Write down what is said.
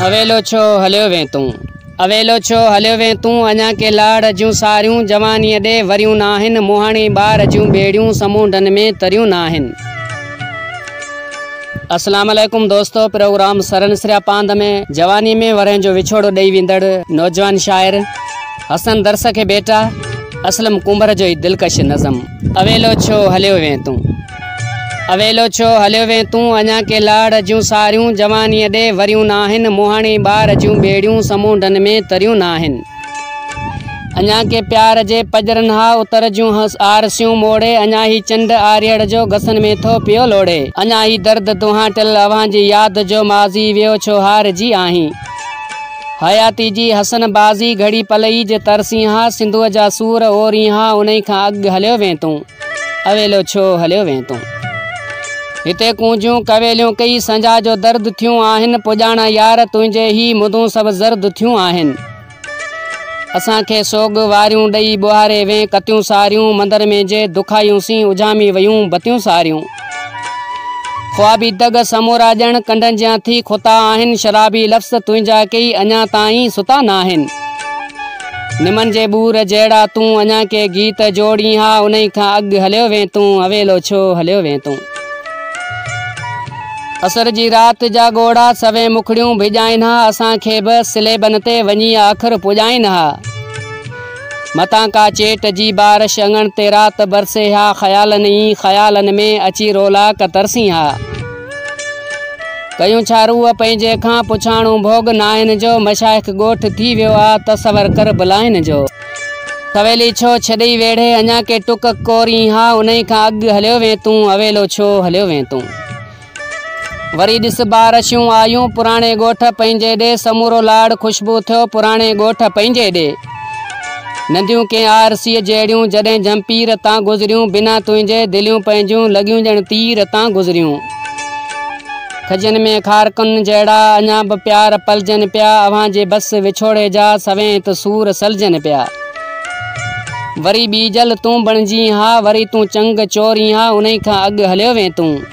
اويلو ڇو هليو وين تون اويلو ڇو هليو وين تون اڃا ڪي لاڙ جون ساريون جوانيء ڏي وريون ناهن مهاڻي ٻار جون ٻيڙيون سمونڊن ۾ تريون ناهن السلام عليڪم دوستو پروگرام سرن سريا پاند ۾ جواني ۾ ورهين جو وڇوڙو ڏئي ويندڙ نوجوان شاعر حسن درس کي ڀيٽا، اسلم ڪنڀر جو هي دلڪش نظم. اويلو ڇو هليو وين تون. اويلو ڇو هليو وين تون، اڃان ڪي لاڙ جون ساريون، جوانيء ڏي وريون ناهن، مهاڻي ٻار جون ٻيڙيون، سمونڊن ۾ تريون ناهن. اڃان ڪي پيار جي پڄرن ها، اتر جون آرسيون موڙي، اڃان هي چنڊ آريڙ جو، گسن ۾ ٿو پيو لوڙي. اڃان هي درد دونهان ٽل، اوهان جي ياد جو، ماضي ويو ڇو هارجي آهين. حياتي جي حسن بازي گهڙي پل ئي جي تر سينها سنڌوء جا سور او رينها انهي کان اڳ هليو وين تون اويلو ڇو هليو وين تون هتي ڪونجون ڪويليون ڪئي سنجا جو درد ٿيون آهن پڄاڻا يار تنهنجي هي مدون سڀ زرد ٿيون آهن اسان کي سوڳ واريون ڏئي ٻوهاري وين ڪتيون ساريون مندر ۾ جي دکايون سين اجهامي ويون بتيون ساريون. خوابي دڳ سمورا ڄڻ ڪنڊن جيان ٿي کتا آهن شرابي لفظ تنهنجا ڪيئي اڃا تائين ستا ناهن نمن جي ٻور جهڙا تون اڃا ڪي گيت جوڙين ها انهي کان اڳ هليو وين تون اويلو ڇو هليو وين تون اسر جي رات جا ڳوڙها سوين مکڙيون ڀڄائين ها اسان کي به سليبن تي وڃي اکر پڄائين ها متان ڪا چيٽ جي بارش اڱڻ تي رات برسي ها خيالن ئي خيالن ۾ اچي رولاڪ ترسين ها ڪيون ڇا روح پنهنجي کان پڇاڻو ڀوڳ ناهن جو مشائخ ڳوٺ ٿي ويو آ تصور ڪر بلاهين جو سويلي ڇو ڇڏئي ويڙهي اڃا ڪي ٽڪ ڪورين ها انهي کان اڳ هليو وين تون اويلو ڇو هليو وين تون. وري ڏس بار شيون آيون پراڻي ڳوٺ پنهنجي ڏي سمورو لاڙ خوشبو ٿيو پراڻي ڳوٺ پنهنجي ڏي ننديون ڪنهن آر سيء جهڙيون جڏهن جهمپير تان گذريون بنا تنهنجي دليون پنهنجون لڳيون ڄڻ تير تان گذريون کجين ۾ کارڪن جهڙا اڃا به پيار پلجن پيا اوهان جي بس وڇوڙي جا سوين ته سور سلجن پيا وري ٻيجل تون بڻجين ها وري تون چنگ چورين ها انهي کان اڳ هليو وين تون.